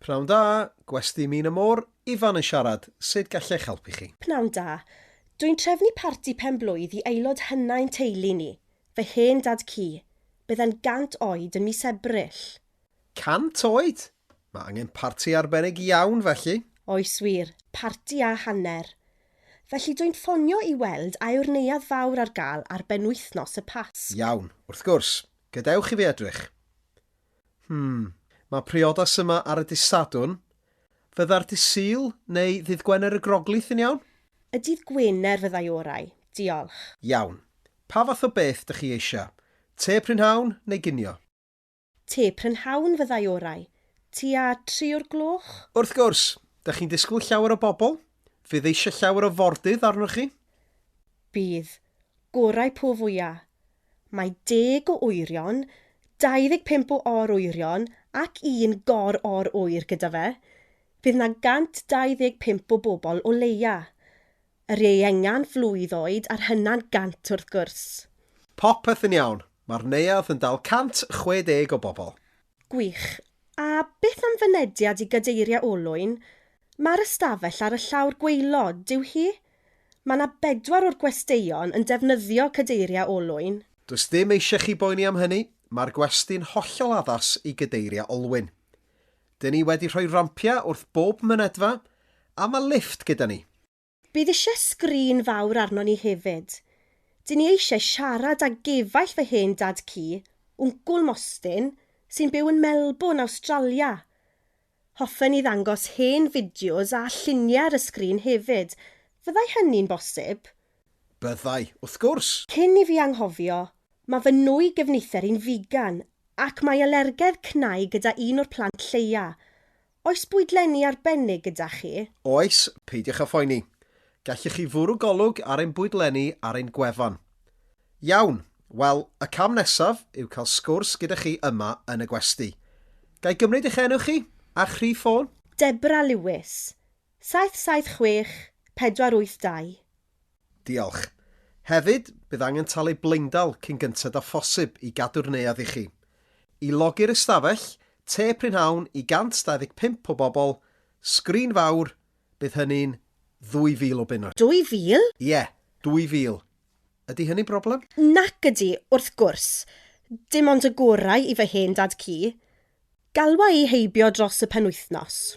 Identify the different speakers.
Speaker 1: Pnawn da, gwesty Min y Môr, Ifan yn siarad, sut gallech helpu chi? Pnawn da.
Speaker 2: Dwi'n trefnu parti pen-blwydd i aelod hynna i'n teulu ni, fy hen dad cu. Bydd e'n 100 oed yn mis Ebrill. 100
Speaker 1: oed! Mae angen parti arbennig iawn felly. Oes wir,
Speaker 2: parti a hanner. Felly dwi'n ffonio i weld a yw'r neuadd fawr ar gael ar benwythnos y Pasg. Iawn, wrth gwrs.
Speaker 1: Gadewch i fi edrych. Hmm, mae priodas yma ar y dydd Sadwrn. Fydda'r dydd Sul neu ddydd Gwener y Groglith yn iawn? Y dydd Gwener
Speaker 2: fyddai orau, diolch. Iawn.
Speaker 1: Pa fath o beth dych chi eisiau? Te prynhawn neu ginio? Te
Speaker 2: prynhawn fyddai orau. Tua tri o'r gloch? Wrth gwrs!
Speaker 1: Dych chi'n disgwyl llawer o bobl? Fydd eisiau llawer o fordydd arnoch chi? Bydd.
Speaker 2: Gorau po fwya'. Mae deg o oerion, 25 o or-oerion ac un gor-or-oer gyda fe. Bydd 'na 125 o bobl o leia'. Yr ieuengan flwydd oed a'r hynna'n 100 wrth gwrs. Popeth
Speaker 1: yn iawn. Mae'r neuadd yn dal 160 o bobl. Gwych.
Speaker 2: A beth am fynediad i gadeiriau olwyn? Mae'r ystafell ar y llawr gwaelod, dyw hi? Mae 'na bedwar o'r gwesteion yn defnyddio cadeiriau olwyn. Does dim eisiau
Speaker 1: chi boeni am hynny, mae'r gwesty'n hollol addas i gadeiriau olwyn. Dyn ni wedi rhoi rampiau wrth bob mynedfa, a mae lifft gyda ni. Bydd eisiau
Speaker 2: sgrin fawr arnon ni hefyd. Dyn ni eisiau siarad â gefaill fy hen dad ci, Wncwl Mostyn, sy'n byw yn Melbourne, Awstralia. Hoffen ni ddangos hen fideos a lluniau ar y sgrin hefyd. Fyddai hynny'n bosib? Byddai,
Speaker 1: wrth gwrs! Cyn i fi anghofio,
Speaker 2: mae fy nwy gefnither i'n figan ac mae alergedd cnau gyda un o'r plant lleia. Oes bwydlenni arbennig gyda chi? Oes, peidiwch
Speaker 1: â phoeni. Gallwch chi fwrw golwg ar ein bwydlenni ar ein gwefan. Iawn, wel, y cam nesaf yw cael sgwrs gyda chi yma yn y gwesty. Ga i gymryd eich enw chi a'ch rhif ffôn? Deborah Lewis,
Speaker 2: 776482.
Speaker 1: Diolch. Hefyd, bydd angen talu blaendal cyn gynted â phosib i gadw'r neuadd i chi. I logi'r ystafell, te prynhawn i 125 o bobl, sgrin fawr, bydd hynny'n 2,000 o bunnoedd. 2,000? Ie, 2,000. Ydy hynny'n broblem? Nac ydy,
Speaker 2: wrth gwrs. Dim ond y gorau i fy hen dad-cu. Galwa i heibio dros y penwythnos.